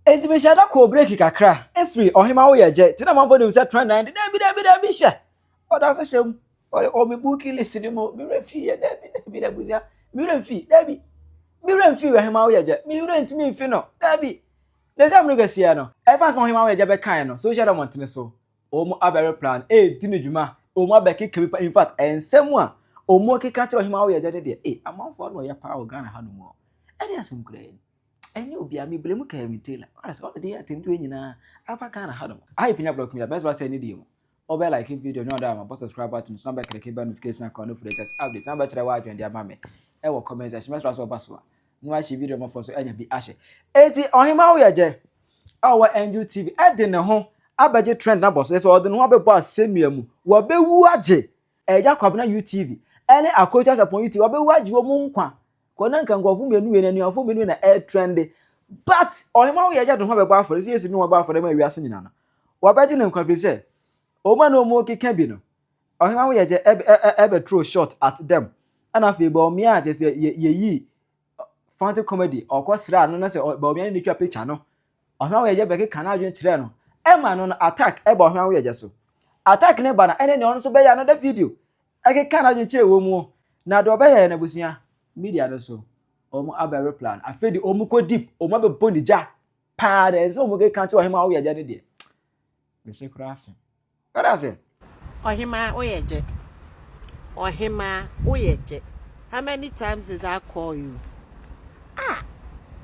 Enti mehyɛɛ da kɔɔ breki kakra firi ɔhema wo yɛ gyɛ ti na amanfoɔ nim sɛ trend nan de daabi daabi daabi hwɛ ɔda so hyɛ mu ɔde ɔme booking list ne mu me werɛ mfii yɛ daabi daabi daabi busua me werɛ mfii daabi me werɛ mfii ɔhema wo yɛ gyɛ me werɛ ntumi mfi no daabi na ɛsɛ amene kɛseɛ no ɛfa sɛ ɔhema wo yɛ gyɛ bɛkae no social dɛ mɔntene so wɔn abɛre plan ɛredi no dwuma wɔn abɛkeka bi pa in fact ɛnsɛm a wɔn keka kyerɛ ɔhema wo yɛ gyɛ no deɛ ee amanfoɔ ano ɔyɛ paa wɔ Ghana ha no mu ɛne asɛm kura yɛ ni Ɛnyɛ obiara, me blame kaa me tailor. Ɔyɛ sɛ ɔde yɛ atɛmtu yɛ nyinaa. Afa Ghana ha nom. Ayi pinya block me da. Best ba sɛ ne deɛ mu. Ɔbɛ like video no ɔda ama bɔ subscribe button so na bɛ click bell notification icon no for latest update na bɛ kyerɛ wɔ adwene de ama me. Ɛwɔ comment section mɛsra so ɔba so a. No ahye video mɔfɔ so anya bi ahwɛ. Eti ɔhema wo yɛ gye. A ɔwɔ Angel TV. Ɛde ne ho abɛgye trend na bɔ so. Ɛsɛ ɔde ne ho abɛbɔ asɛnnua mu. Wɔbɛwu agye. Ɛyɛ Kwabena UTV ɛne Akoto Asapɔn UTV. Wɔbɛwu agye wɔn nkwa. Kɔ na nka nkurɔfo mmienu yɛ anuafo mmienu na ɛretrɛnde. But ɔhema wo yɛ agya de ho abɛbɔ afɔre sɛ Yesu ne wɔn bɔ afɔre ma wiase nyinaa no. Wɔbɛgye no nkwa firi sɛ wɔn a na wɔn keka bi no ɔhema wo yɛ agya ɛbɛtoro short at them ɛna afei Bawumia kyɛ sɛ yɛyi fancy comedy ɔkɔ sra no na sɛ Bawumia ne ne twa picture no ɔhema wo yɛ agya bɛkeka no adwene kyerɛ no ɛma no no attack ɛba ɔhema wo yɛ agya so attack ne ba no ɛne ne ɔno nso bɛyɛ another video Ɛkeka n'adwen kyerɛ wɔn mu na de ɔbɛ yɛ n'abusua. Media no so wɔn abɛ reply no afei de wɔn kɔ deep wɔn abɛ bɔ ne gya paa dɛ ɛnsɛ wɔn keka nkyerɛ ɔhemaa Oyɛgye no deɛ mese koraa fe wɛrɛ ase. Ɔhemaa Oyɛgye Ɔhemaa Oyɛgye how many times did I call you ah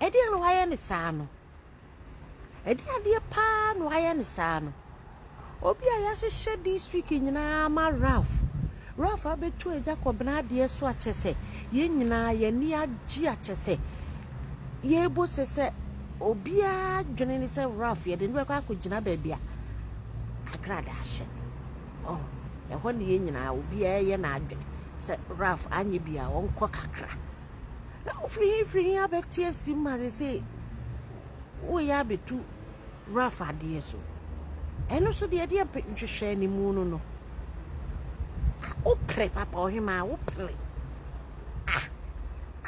ɛdeɛn na wayɛ no saa no. Ɛdeɛn adeɛ paa na wayɛ no saa no? Obi a yɛahyehyɛ district nyinaa ama Ralph, Ralph abɛtu agya kɔbena adeɛ so a kyɛsɛ yɛn nyinaa yɛn ani agye a kyɛsɛ yɛbɔ se sɛ obiara dwene ne sɛ Ralph yɛde no bɛkɔ akɔgyina baabi a agradaa ahyɛ. Oh, ɛhɔ ne yɛn nyinaa obiara yɛ n'adwene sɛ Ralph anyɛ bi a ɔnkɔ kakra. na wofiri he firi he abɛte asim ma seesei woreyɛ abɛtu rough adeɛ so. Ɛno nso deɛ ɛdeɛ mpe nhwehwɛɛ ne mu no no, ah, wopere papa ɔhemaa, wopere. Ah,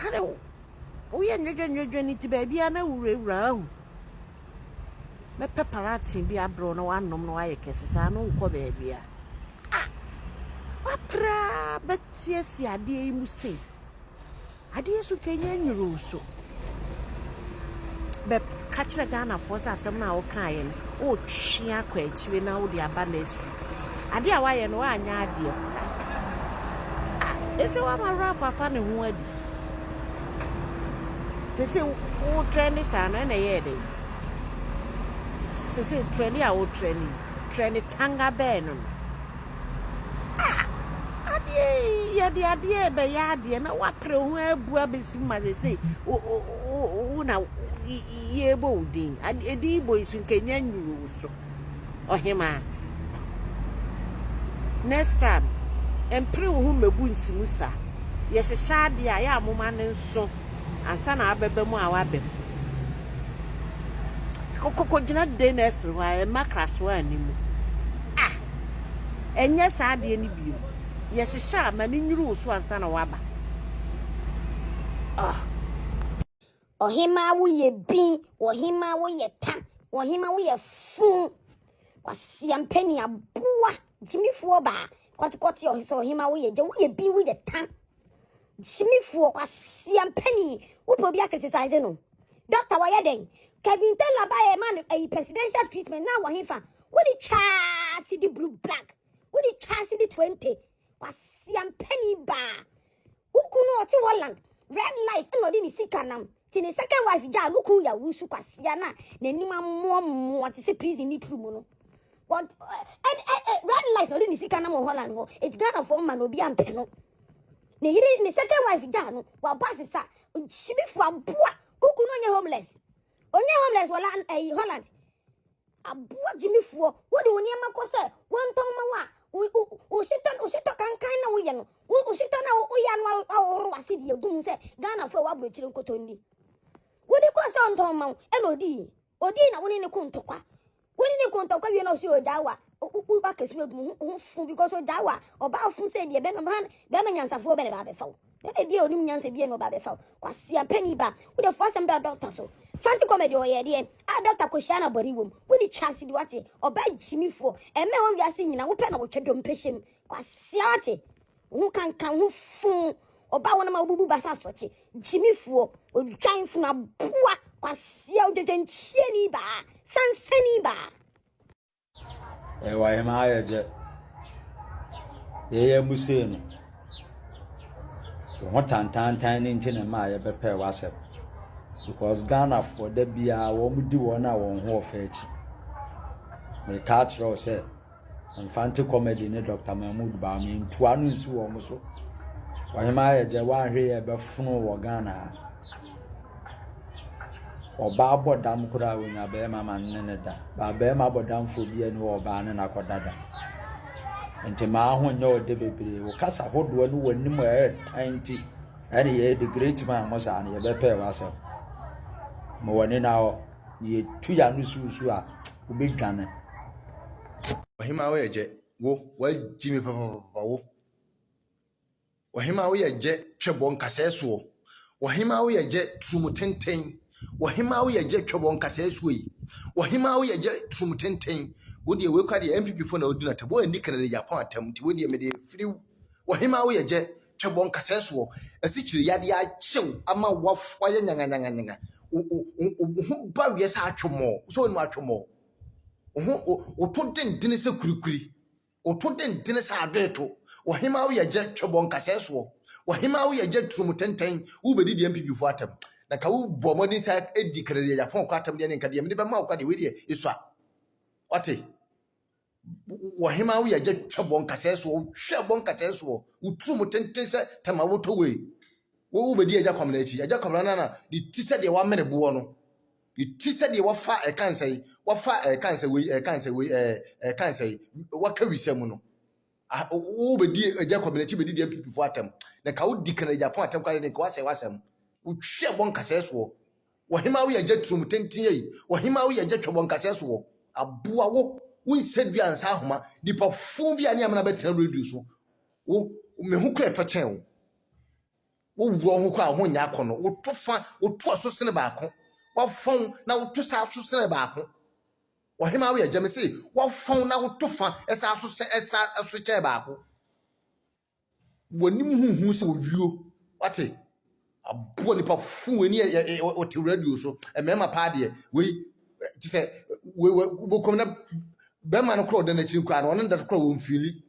ade wo, woyɛ nnwedwa nnwedwa ne ti baabiara na wurawura ahu. Mɛpɛ paraten bi abrɛ wo na woanom na woayɛ kɛse saa na wonkɔ baabiara. Ah, woapere ara bɛte asi adeɛ yi mu sei. Adeɛ so kɛnyɛ nnuruu so. Bɛ ka kyerɛ Ghanafoɔ sɛ asɛm no a wo kaeɛ no wo retwe akɔ akyire na wo de aba next week. Adeɛ a woayɛ no woanyɛ adeɛ koraa. Ah ɛsɛ woama Ralph afa ne ho adi. Sese wo trɛne saa no ɛna ɛyɛɛ dɛn? Sese trɛne a wo trɛne yi trɛne tanga bɛɛ no no. Ah! Adeɛ yi, yɛde adeɛ rebɛyɛ adeɛ na woapere wo ho abu abɛsi mu ma seesei wo wo wo wo na yɛrebɔ wo din. Edin yi bɔ yi so nka nya nnuru wo so. Ɔhemaa. Next time, mpere wo ho mmɛbu nsi mu saa. Yɛhyehyɛ adeɛ a, yɛ a moma no nso. ansa na abɛba mu a waba mu. Kɔkɔ gyina day nursery hɔ a mma krasoa anni mu. Ah! Ɛnyɛ saa adeɛ no bio. Yɛhyehyɛ a ma no nnuru wo so ansa na waba. Ah! Ɔhemaa wo yɛ bin, ɔhemaa wo yɛ ta, ɔhemaa wo yɛ fuu. Kwasi Ampani aboa gyimifoɔ baa kɔtekɔte ɔhesɛ ɔhemaa wo yɛ gya, wo yɛ bin, wo yɛ ta. Gyimifoɔ kwasia mpani wopɛ obi akritisize no doctor wɔyɛ dɛn Kevin Taylor ba yɛ ma no ayi presidential treatment na wɔ hefa wode twaa sidi blue black wode twaa sidi 20 kwasia mpani baa wokunu ɔte Holland red light na ɔde ne sika nam Ti ne second wife gyaa no kun ya wusu kwasia na n'anim amoa mmoa te sɛ prison ne turu mu no but eh, eh, eh, red light ɔde ne sika nam wɔ holland hɔ eti ghana fɔ mma na obi ampɛ no ne yere ne second wife gyaa no wabɔ asesa hyibifo aboa kuku no onye homeless onye homeless wɔ lan ɛyi holland Aboa gyimifoɔ, wode wo nneɛma kɔ sɛ wɔntɔn ma wo a, wohyetɔ wohyetɔ kankan na woyɛ no, wohyetɔ na woyɛ ano ahohoro wase deɛ gu mu sɛ Ghanafoɔ a wɔaburokyire nkotɔndi. Wode kɔɔ sɛ ɔntɔn ma wo, ɛna odii. Odii na wo ne ne ko ntɔkwa. Wo ne ne ko ntɔkwa wie na ɔsi ogyaa wo a, woba kɛse agu mu ho fo because ogyaa wo a, ɔbaa fo sɛ deɛ bɛrima nyansafoɔ bɛna bɛabɛfa wo. Dada ebia onim nyansa bi na ɔba bɛfa wo. Kwasea panin ba, wode fo asɛm da dɔkta so. Fanti comedy ɔyɛ ɛdeɛ a dɔkta kɔ hyia na bɔne wom. Wonni chance bi wate. Ɔbaa gyimifoɔ. Ɛmma ɛwɔ wiase nyina wopɛ na wotwa dompe hyɛ mu. Kwasea wate. Wo ho kanka wo ho fuu. Ɔbaa wɔnom a wobubu basa asɔkye. Gyimifoɔ. Odwan funu aboa. Kwasea odwadwankyie ni baa. Sansani baa. Ɛwɔ yɛn ayɛ dɛ. Yɛyɛ mu sei no, wo ho tantantan no nti na ɛma a yɛbɛpɛɛ w'asɛm. Because Ghanafoɔ da biara wɔdi wɔn a wɔn ho ɔfɛ akyi. Meka akyerɛ wo sɛ, Mfante comedy ne Dr. Mahmood baa me ntua no nsi wɔn so. Ɔhema ayɛ dɛ woanhwɛ yɛ bɛfono wɔ Ghana ha. Ɔbaa bɔ dam koraa a onya bɛrima ma ne ne da. Ba bɛrima bɔ damfoɔ bi a ne ɔbaa ne no akɔda da. Nti maa ho nyɛ ɔde bebree. Wo kasa hodoɔ ne w'anim a ɛretan nti ɛne yɛ de great man mo saa no yɛbɛpɛɛ w'asɛm. Ma wɔn ani na hɔ. Na yɛtu yɛ ano susu a wobɛdwane. Ɔhemaa woyɛ gyɛ wo wagyi me papapapa wo. Ɔhemmaa wo yɛ gyɛ twɛbɔ nkasɛɛ soɔ. Ɔhemmaa wo yɛ gyɛ turumu tenten. Ɔhemmaa wo yɛ gyɛ twɛbɔ nkasɛɛ soɔ yi. Ɔhemmaa wo yɛ gyɛ turumu tenten. Wo deɛ wei kora deɛ NPP fo na odi no atam. Wo anni Kennedy Agyapong atam nti wo deɛ mede afiri wo. Ɔhemmaa wo yɛ gyɛ twɛbɔ nkasɛɛ soɔ. Asikyire yadeɛ akyɛ wo ama woayɛ nyanganyanganyaga. Wo wo wo wo ho ba weɛ sɛ atwomɔɔ. Wo sɛ wonim atwomɔɔ? Wo ho wo woto dendene sɛ kurikuri. Oto dendene sɛ adweeto, Ɔhemmaa wo yɛ gyɛ twɛbɔ nkasɛɛ soɔ, Ɔhemmaa wo yɛ gyɛ turom tenten, wobɛdi deɛ mpibifoɔ atɛm. Na nka wo bɔ mmɔden sa di kra deɛ Japan kɔ atɛm deɛ ne nka deɛ mede bɛma wo kora deɛ wei deɛ esua. Wate? Ɔhemmaa wo yɛ gyɛ twɛbɔ nkasɛɛ soɔ, hwɛ bɔ nkasɛɛ soɔ, wo turom tenten sɛ tɛma wotɔ wei. Wo wobɛdi agya kwamena akyi, agya kwamena no na ne ti sɛ deɛ wamene boɔ no. Ti sɛ deɛ wɔfa a ɛka nsɛe, wɔfa a ɛka nsɛ wei, ɛka nsɛ wei, ɛɛ ɛka nsɛ yi. Wɔka wisɛ mu no. Ah, wobɛdi agya kɔmina akyi bɛdi deɛ mpipifoɔ atɛm. Na ka wodi kan agya pɔn atɛm koraa de nka wasɛe wasɛm. Wotwi ɛbɔ nkasɛɛ soɔ. Wɔhema woyɛ agya turom tenten yi. Wɔhema woyɛ agya twɛbɔ nkasɛɛ soɔ. Aboa wo. Wo nsɛ dua ansa ahoma. Nipa fuu bi a ne amena bɛtena radio so. Wo, me ho kura ɛfɛ kyɛn wo. Wowu wɔn ho kɔ a wɔn ho nyɛ akɔnnɔ. Woto fa, woto aso sene baako. Wɔfɔn na woto saa aso sene baako. Ɔhema wo yɛ gyame se wɔfɔn na woto fa ɛsa aso sɛ ɛsa aso kyɛ baako. Wɔnim huhu sɛ owuo. Wate? Aboɔ nipa fun ani yɛ ɔte radio so. Mmarima paa deɛ wei te sɛ wei wei wobɛkɔm na bɛrima no korɔ ɔda n'akyiri koraa na ɔno da korɔ wɔn fili.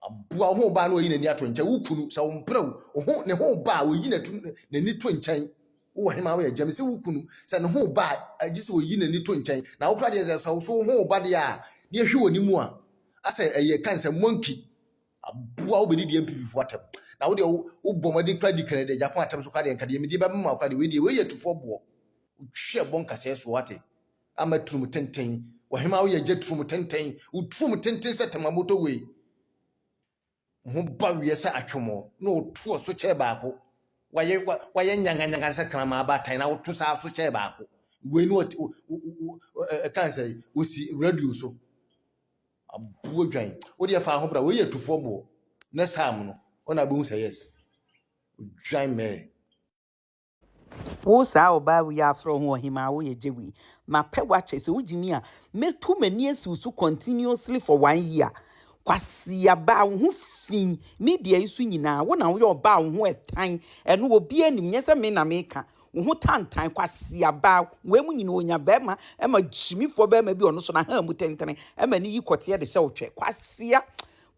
Aboa wo ho ba na ɔyi n'ani ato nkyɛn. Wo kunu, sɛ wo mpere wo ho ne ho ba a, ɔyi n'ani to nkyɛn. Wowɔ hema woyɛ gyam sɛ wo kunu, sɛ ne ho ba a, gye sɛ ɔyi n'ani to nkyɛn. Na wo kora deɛ sɛ sɛ wo so wo ho ba deɛ a, ne ɛhwe wɔ ne mu a, asɛ ɛyɛ kan sɛ monkey. Aboa wo bɛdi deɛ mpibifo atɛm. Na wo deɛ wo bɔ mmɔden kora di kɛnɛ deɛ gyako atɛm so kora deɛ nka deɛ medi bɛbɛma wo kora deɛ wei deɛ wei yɛ tufoɔ boɔ. Wotwi ɛbɔ nkasɛɛ soɔ ate. Ama turom tenten. W'ahema woyɛ gya turom tenten. Wo turom tenten sɛ tama motorway. Wo ho ba wiɛ sɛ atwomɔ na woto asokyɛɛ baako. Wayɛ wayɛ nyanganyangan sɛ kraman abaatan na woto saa asokyɛɛ baako. Wei no ɛkan sɛ wosi radio so. Aboɔ dwan. Wo deɛ fa ho bra. Wei yɛ tufoɔ boɔ. Next time no ɔna bɛhu sɛ yes. Dwan mɛɛ. Wo saa ɔbaa wei afrɛ ho ɔhemaa woyɛ gye wei. Mapɛ wakyɛ sɛ wogye mi a mɛtu m'ani asiw so continuously for one year. Kwasia baa wo ho fi media yi so nyinaa wo na woyɛ ɔbaa wo ho ɛtan ɛno obi anim nyɛ sɛ me na meka wo ho tantan kwasia baa wei mu nyina onya bɛrima ɛma gyimifoɔ bɛrima bi ɔno so na ha mu tentene ɛma ne yi kɔteɛ de sɛ ɔtwɛ kwasia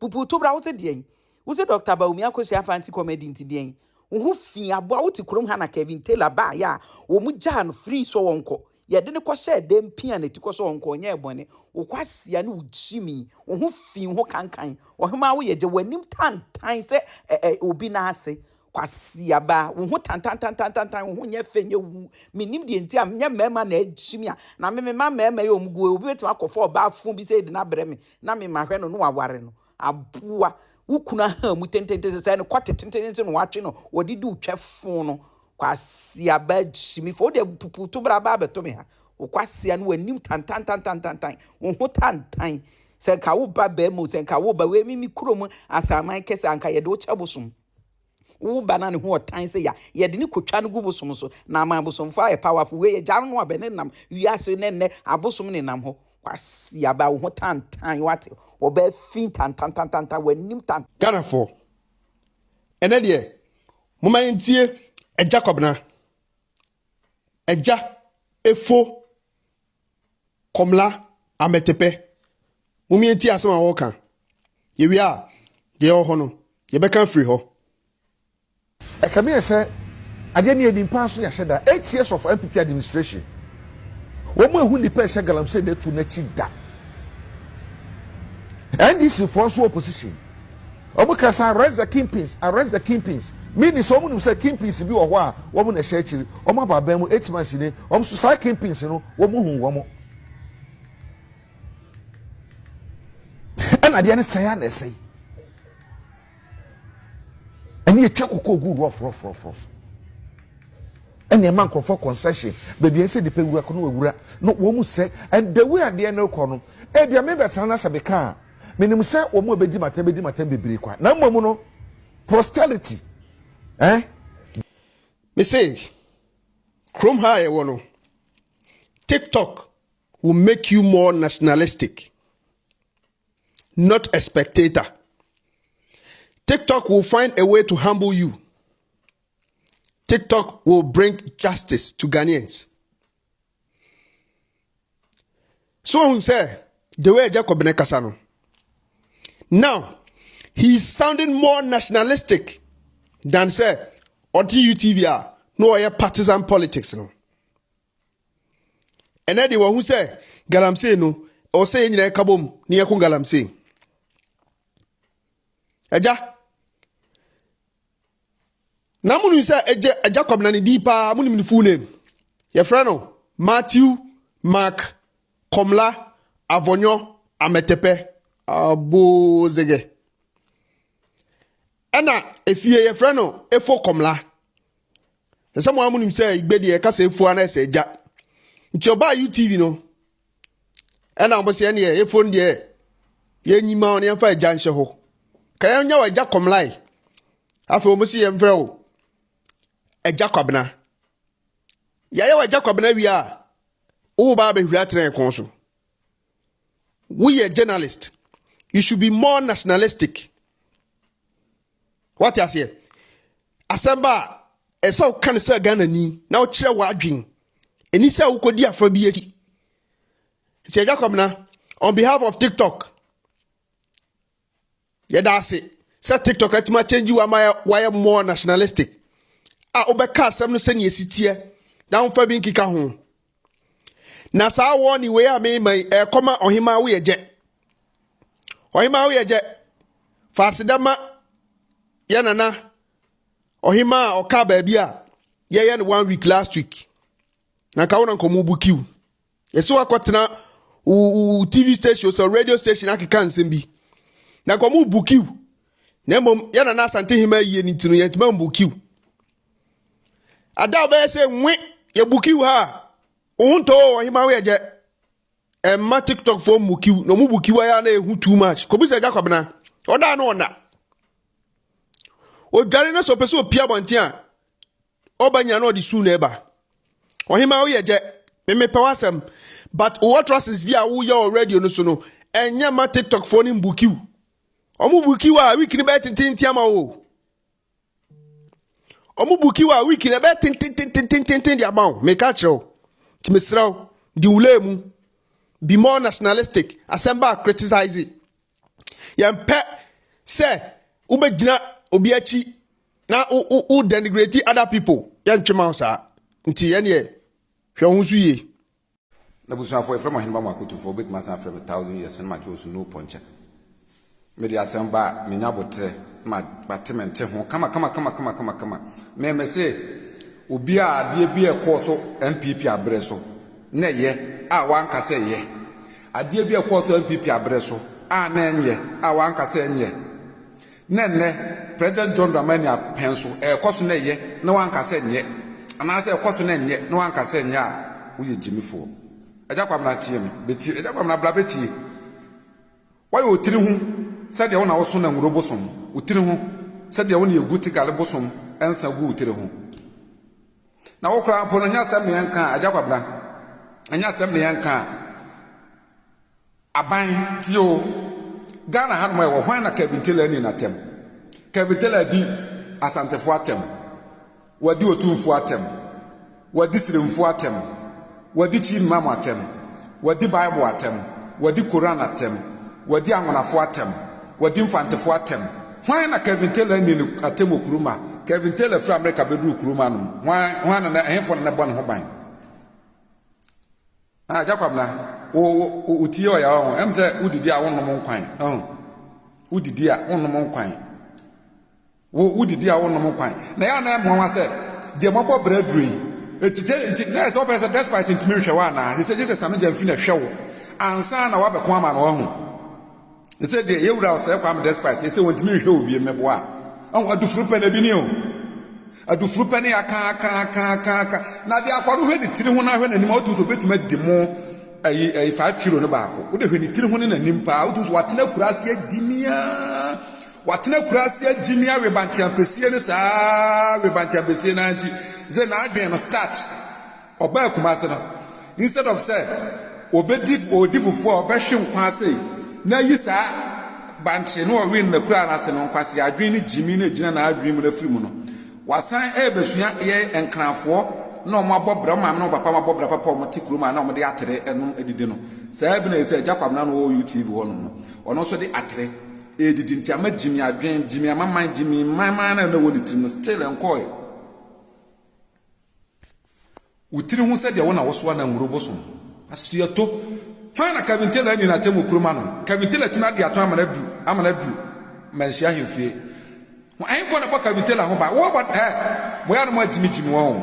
pupuuto bra wo sɛ deɛ Wose Dɔkta Bawumia Akosua Afah nte comedy nti deɛn? Wo ho fii aboa wo te kurom ha na Kevin Taylor baeɛ a wɔn gyaa no free sɛ ɔnkɔ. Yɛde no kɔhyɛɛ dɛm pia na ti kɔ sɛ ɔnkɔ ɔnyɛɛ bɔne. Wo kwasia ne wo gyimi. Wo ho fii ho kankan. Ɔhemaa wo yɛ gya w'anim tantan sɛ ɛ ɛ obi nan ase. Kwasia ba wo ho tantantantantantan wo ho nyɛ fɛ nyɛ wu. Me nim deɛ nti a nyɛ mmarima na agyimi a na me mema mmarima yi wɔn gu ɛ. Obi bɛtumi akɔfa ɔbaa fo bi sɛ de no abrɛ me na me mahwɛ no na waware no. Aboa wo kunu ahaa mu tententen sɛ ne kɔte tententen na watwe no wɔde di otwa fon no kwasi aba simi fo de pupu to bra ba abɛto me ha wo kwasi ano wanim tantan tantan tantan wo ho tantan sɛ nka wo ba bɛrima sɛ nka wo ba wei me me kurom asaman kɛse anka yɛde wo kyɛ bosom Wo ba na ne ho ɔtan sɛ ya, yɛde no kotwa no gu bosom so, na ama abosomfoɔ ayɛ powerful. Wei agya no a bɛnenam wiase ne nnɛ abosom nenam hɔ. Kwasiaba wo ho tantan wate, ɔbaa fi tantantantantan w'anim tantan. Ghanafoɔ, ɛnɛ deɛ momma yɛntie Agya Kwabena, Agya Efo Kɔmla Ametepe, Momie ntie asɛm a wɔreka. Yɛwie a, deɛ ɛwɔ hɔ no, yɛbɛka afiri hɔ. Ɛka mi yɛ sɛ adeɛ no yɛnim paa so yɛahyɛ da, eight years of NPP administration, wɔn ɛhu nnipa ɛhyɛ galamsey no atu no akyi da. NDC foɔ nso wɔ opposition. Wɔn ka sɛ arrest the kingpins, arrest the kingpins, meaning sɛ wɔn nim sɛ kingpins bi wɔ hɔ a wɔn na ɛhyɛ akyiri, wɔn aba aban mu eight months ni, wɔn nso saa kingpins no wɔn hu wɔn. Ɛna adeɛ no sɛe a na ɛsɛe. Ɛne yɛtwa koko gu rough rough rough rough. Ɛne ɛma nkurɔfoɔ concession baabi a ɛsɛ nipa wura kɔ no wura no wɔn mu sɛ and the way adeɛ no rekɔ no ebia mebɛtena no asɛ beka a Menim sɛ wɔn a wɔbedi m'atɛm bedi m'atɛm bebree kwa, na mmom no, posterity, eh? Mese, kurom ha a yɛwɔ no, TikTok will make you more nationalistic, not a spectator. TikTok will find a way to humble you. TikTok will bring justice to Ghanaians. so ohun sɛ the way jacob ne kasa no now he is sounding more nationalistic than sɛ ɔte utv a na ɔyɛ partisan politics no ɛnɛ de wɔn ho sɛ galamsey no ɛwɔ sɛ yɛn nyinaa ɛka bom ne yɛko galamsey ɛgya na mo nim sɛ ɛgye Jacob na ne din paa mo nim ne full name yɛfrɛ no Matthew Mark Kɔmla Avɔnyɔ Amɛtɛpɛ Abozegɛ ɛna efie yɛfrɛ no Efo Kɔmla ɛsɛ mo a mo nim sɛ igbe deɛ ɛka sɛ efuo anaa ɛsɛ agya nti ɔbaa UTV no ɛna wɔn sɛ ɛneɛ efon deɛ yɛnyi ma wɔn yɛnfa agya nhyɛ hɔ ka yɛnyɛ wɔ agya kɔmlae afei wɔn sɛ yɛnfrɛ wo agya kwabena yɛayɛ wɔ agya kwabena wie a wowo ba abɛhwira atena yɛn kɔn so woyɛ journalist you should be more nationalistic. Wate aseɛ? Asɛm ba a, ɛsɛ woka no sɛ Ghana ni na wokyerɛ w'adwen. Ɛni sɛ wokɔdi afa bi akyi. Sɛ Jacob na, on behalf of TikTok, yɛda ase sɛ TikTok atumi akyɛngyi wa ma wayɛ more nationalistic a wobɛka asɛm no sɛnea ɛsi teɛ na womfa bi nkeka ho. na saa wɔɔne wei a mema yi ɛkɔma ɔhemaa woyɛ gyɛ ɔhemaa woyɛ gyɛ fa aseda ma yɛ nana ɔhemaa a ɔka baabi a yɛyɛ no one week last week na nka wo na nkɔmɔ bu kiw yɛsi wakɔtena wo tv station sɛ radio station akeka nsɛm bi na nkɔmɔ bu kiw na mmom yɛ nana asante hemaa yie ne ti no yɛntuma mbu kiw Ada ɔbɛyɛ sɛ nwe yɛ bukiw ha. Ohun to o ɔhema wo yɛ jɛ. Ɛmma TikTok fo mmu kiw na ɔmo bu kiw ayɛ na ehu too much. Kobisa agya kwabena. Ɔda no ɔna. Odware na sɛ ɔpɛ sɛ opia abɔnten a ɔba nyina na ɔde su na ɛba. Ɔhema wo yɛ jɛ. Memepɛ w'asɛm. But wo utterances bi a woyɛ wɔ radio no so no ɛnyɛ ma TikTok fo no mbu kiw. Ɔmo bu kiw a week no bɛyɛ tententen ama wo. ɔmo buki wa wiki na ɛbɛyɛ tentententententen de ama wo meka kyerɛ wo nti mesrɛ wo di wo lane mu be more nationalistic asɛm ba criticize yɛmpɛ sɛ wobɛgyina obi akyi na wo wo wo denigrate other people yɛntwe ma wo saa nti yɛneɛ hwɛ wo ho so yie M'abusuafoɔ, yɛfrɛ mo ahenema mu akotofoɔ, wobɛtumi asan afrɛ me Thousand Years Cinema Joe Sunuo Pɔnkyɛ. Mede asɛm ba a, menya aboterɛ na mate me nte ho kama kama kama kama kama kama. Me me se, obi a adeɛ bi a ɛkɔɔ so NPP aberɛ so na ɛyɛ a wanka sɛ ɛyɛ, adeɛ bi a ɛkɔɔ so NPP aberɛ so a na ɛnyɛ a wanka sɛ ɛnyɛ. Na ɛnnɛ, President John Dramani Apeh nso, ɛrekɔ so na ɛyɛ na wanka sɛ nyɛ, anaasɛ ɛrekɔ so na ɛnyɛ na wanka sɛ nyɛ a, woyɛ gyimifoɔ. Agya Kwabena tie me, bɛtie, Agya Kwabena bra bɛtie. Woayɛ wo tiri ho sɛ deɛ wo na woso Nanwuro bosom, wo tiri ho sɛ deɛ wo na yɛgu Tigale bosom nsa gu wo tiri ho. Na wo koraa mpo no, ɛnyɛ asɛm na yɛnka a, Agya Kwabena, ɛnyɛ asɛm na yɛnka a, Aban tie oo. Ghana ha nom ɛwɔ hwan na Kevin Taylor ani natɛm? Kevin Taylor adi Asantefoɔ atɛm, wadi Otumfoɔ atɛm, wadi Siremfoɔ atɛm, wadi Chief Imam atɛm, wadi Bible atɛm, wadi Koran atɛm, wadi Anwonafoɔ atɛm, wadi Mfantefoɔ atɛm. Hwan na Kevin Taylor ani no atɛm wɔ Kuruma? Kevin Taylor firi Amerika bɛduru Kuruma nom hwan, hwan na, ɛhefoɔ na na ɛbɔ ne ho ban? Ah Gya Kwabena, wo wo wo wo tie ɔya ɔho, ɛm sɛ wo didi a wo nnom nkwan, ɔho, wo didi a wo nnom nkwan, wo wo didi a wo nnom nkwan, na yɛ anan mmoa wa sɛ, deɛ mo abɔ brɛ duro yi, eti te nti na yɛ sɛ ɔbɛyɛ sɛ despite ntumi nhwɛ wa anaa, te sɛ gye sɛ Sami Gyamfi na ɛhwɛ wo, ansa na wabɛko ama no, ɔho. Te sɛ deɛ yɛn wura ɔsɛɛ Kwame despite te sɛ wɔntumi nhwɛ obi mmɛboa a. Ɔho adufuru pɛ na bi ni o. Adufuru pɛ ne aka aka aka aka aka. Na deɛ akwa no hwɛ ne tiri ho na hwɛ n'anim a wotumi sɛ obetumi adi mo ɛyi ɛyi five kilo no baako. Wode hwɛ ne tiri ho ne n'anim paa wotumi sɛ watena kura ase agyimia watena kura ase agyimia webankyeampesie no saa webankyeampesie no ara nti sɛ n'adwene no starch Ɔbaa Kumasi no, instead of sɛ ɔbɛdi ɔdi fufuo a ɔbɛhwe nkwa sei na ayi saa bankye ne ɔwee no nakura no ase no, nkwasea adwene ne gyimi na ɛgyina n'adwene mu no afiri mu no, wasan ɛrebɛsua yɛ Nkranfoɔ na wɔn abɔ bra, wɔn maame ne wɔn papa abɔ bra papa a wɔte kurom a na wɔde atere nom didi no. Saa bi na ɛsɛ Agya Kwabena no wɔ UTV hɔ nom no, ɔno nso de atere ɛredidi nti ama gyimi adwene, gyimi amaman, gyimi mman mman na ɛwɔ ne tirim no still ɛnkɔɔɛ. Wo tiri ho sɛdeɛ wo na wosoa na nwuro bosom. Asuato, Hwan na Kevin Taylor anni n'atemmu kuro ma no? Kevin Taylor tumi adi atɔn amana du amana du manhyia ahemfie. Ho Ɛhefoɔ na ɛbɔ Kevin Taylor ho ban? Wo abɔ Hɛ! Mo yɛ a na mo agyimigyimi wɔn o.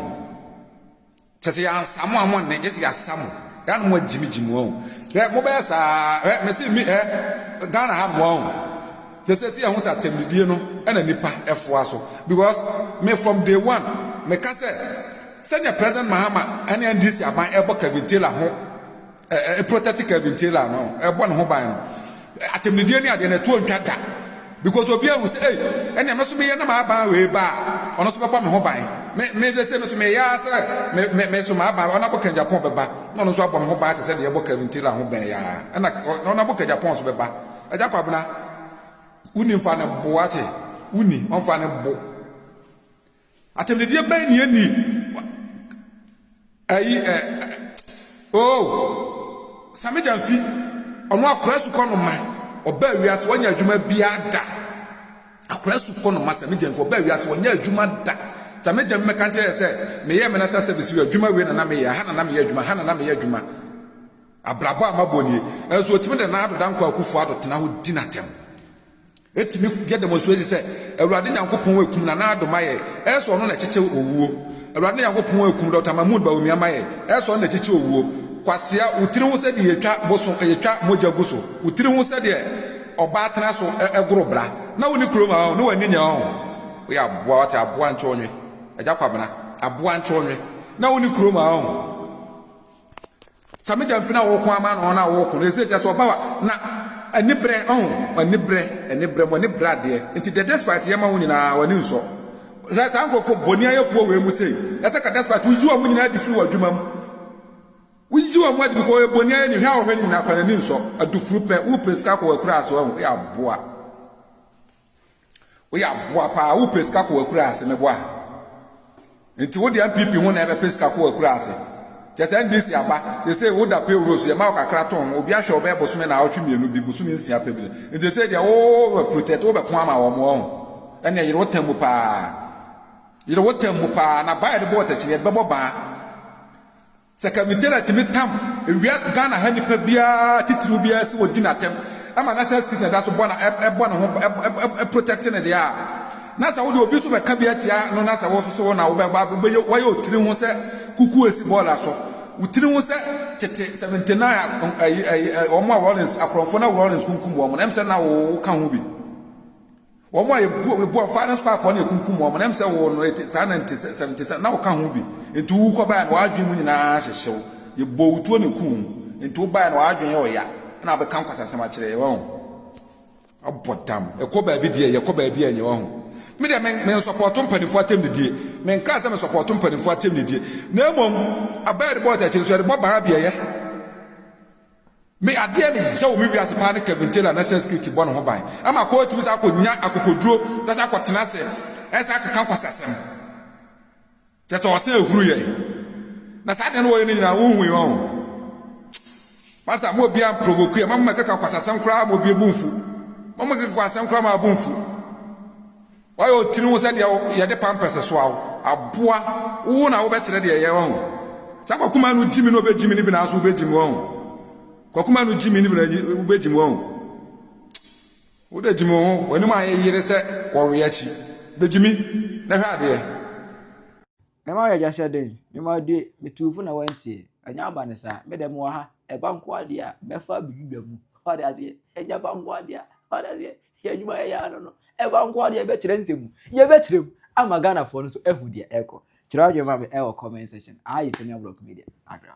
Kyɛ sɛ yɛansa mo a mo nne gye sɛ yɛasa mo. Yɛ a na mo agyimigyimi wɔn o. Hwɛ, mobɛyɛ saa ara. Hwɛ, mese mi hɛ, Ghana ha mmoa o. Sɛ sɛsi yɛhu sɛ atɛmdidie no na nipa foa so because me from day one me ka sɛ sɛnea president Mahama ne NDC aban ɛbɔ Kevin Taylor ho ɛ protect Kevin Taylor no ɛbɔ ne ho ban no atɛmdidie ne adeɛ no ɛtoɔ ntwa da because obi ahu sɛ ei ɛnea me so meyɛ na m'aban wei ba a ɔno so bɛbɔ me ho ban me me sɛ sɛ me so meyɛ ara sɛ me me me so m'aban ɔno abɔ Kajapon bɛba na ɔno nso abɔ me ho ban te sɛ deɛ ɛbɔ Kevin Taylor ho bɛn yɛ ara ɛna ɔno abɔ Kajapon nso bɛba Agya Kwabena, wo ni nfa no bo, wate, wo ni ɔnfa no bo. Atɛmdedeɛ bɛn ni ɛni ɛyi ɛ oo Same Gyamfi, ɔno akora asukɔ no ma, ɔbaa wiase, wɔnyɛ adwuma biara da. Akora asukɔ no ma Same Gyamfi, ɔbaa wiase, wɔnyɛ adwuma da. Same Gyamfi mɛka nkyerɛ yɛ sɛ, meyɛ me national service yɛ adwuma wei na na meyɛ, ha na na meyɛ adwuma, ha na na meyɛ adwuma. Abrabɔ a mabɔ nie. Nanso otumi de Nado Dankwa Akufo-Addo tena hɔ di no atɛm. Etumi yɛ demonstrate sɛ Awurade Nyankopɔn akum Nana Addo ma yɛn, ɛyɛ sɛ ɔno na ɛkyekyɛ owuo. Awurade Nyankopɔn akum Doctor Mahmood Bawumia ma yɛn, ɛyɛ sɛ ɔno na ɛkyekyɛ owuo. Kwasea, wo tiri ho sɛdeɛ yɛtwa boso, yɛtwa mogya gu so. Wo tiri ho sɛdeɛ ɔbaa tena so goro bra. Na wonni kurom a ɔn, na wanni nea ɔn. Woyɛ aboa, wate, aboa nkyɔnwe. Agya Kwabena, aboa nkyɔnwe. Na wonni kurom a ɔn. Sa me gyamfi na woko ama no na woko no ɛsɛ gya so ɔba wa na anibrɛ ɔho anibrɛ anibrɛ mo ani brɛ adeɛ nti dɛ despite yɛ ma wo nyinaa wani nsɔ sɛ saa nkorɔfoɔ bɔni ayɛfoɔ wei mu sei ɛsɛ ka despite wo yi ɔmo nyinaa adi firi wɔ adwuma mu wo yi ɔmo adi bikɔ ɔyɛ bɔni ayɛ ni hwɛ a ɔhwɛ ni nyinaa kora n'ani nsɔ adufuru pɛ wo pɛ sika kɔ wɔ akura ase ɔho yɛ aboa Woyɛ aboa paa wo pɛ sika kɔ akuraase meboa nti wo deɛ npp ho na ɛbɛpɛ sika kɔ akuraase kyɛ sɛ ndc aba sese wo da payroll so yɛma wo kakra tɔn obi ahwɛ ɔbɛyɛ bosome na awɔtwe mmienu bi bosome nsia pɛ bi nti sɛ deɛ wo bɛ protect wo bɛko ama wɔn ho ɛnna yere wo tɛm mu paa yere wo tɛm mu paa na baa yɛde bɔ ɔtɛkyini yɛde bɛbɔ baa Sɛ Kavitera tumi tam wia Ghana ha nipa biara titiriw biara sɛ ɔdi no atɛm ma National Security na ɛda so bɔ no bɔ ne ho protect no deɛ a, na sɛ wode obi nso bɛka bi atia no na sɛ wososo wo na wobɛba wobɛyɛ wayɛ otiri ho sɛ kuku esi bɔɔla so wo tiri ho sɛ tete 79 wɔn a Rawlings akorɔmfo na Rawlings kunkum wɔn na ɛm sɛ na woka ho bi. Wɔn a yɛbu yɛbu wɔn faa ne so kɔ akoa no yɛkunkum wɔn na ɛm sɛ wɔn no ɛte saa na nte sɛ sɛ nte sɛ na woka ho bi nti wowu kɔ baeɛ no w'adwene mu nyinaa hyehye wo yɛbɔɔ wo tuo na ɛkum wo nti wo baeɛ no w'adwene yɛ ɔya ɛna wobɛka nkwasasɛm akyerɛ yɛ wahu abɔ dam ɛkɔ baabi deɛ yɛkɔ baabi a ɛnyɛ wahu me deɛ me me nsɔpɔɔto mpanimfoɔ atɛmdidie me nkaa sɛ me sɔpɔɔto mpanimfoɔ atɛmdidie na mmom abɛɛ de bɔ ɔtakyi nso yɛde bɔ baa beɛyɛ Me adeɛ ne hyehyɛ wɔ me wiase paa ne Kevin Taylor national security bɔ ne ho ban ama akɔ atumi saa akɔ nya akokoduro na saa akɔ tena ase ɛsan akeka nkwasasɛm kyɛtɛ ɔsan ehuru yɛn na saa deɛ no wɔyɛ no nyinaa wo hui wɔn masa mo obi an provoke yɛ ma mo keka nkwasasɛm koraa mo obi ebu mfu mo mo keka nkwasasɛm koraa ma abu mfu Wayɛ wo tiri ho sɛ deɛ yɛde pampɛs soa wo. Aboa, wo na wobɛkyerɛ deɛ ɛyɛ, wahu. Saa kwakumaa no gyimi na ɔbɛgyimi no bi nanso wobɛgyimi, wahu. Kwakumaa no gyimi no bi na wobɛgyimi, wahu. Wode gyimi wo ho, w'anim ayɛ yere sɛ wɔwe akyi. Bɛgyimi na hwɛ adeɛ. Me ma yɛgya sɛ dɛn? Me ma die, metuu fo na wantie. Ɛnyɛ aba ne saa, me dɛ mewɔ ha. Ɛba nko adeɛ a, mɛfa abɛdwidwa mu. Ɔde aseɛ, ɛnyɛ ba nko adeɛ a, ɔde aseɛ, Yɛ adwuma a yɛyɛ ano no, ɛba nko ara deɛ yɛbɛkyerɛ nsɛm mu. Yɛbɛkyerɛ mu ama Ghanafoɔ no nso ahu deɛ ɛrekɔ. Kyerɛ w'adwene ma me wɔ comment section. Ayi Tanya Brock Media, Accra.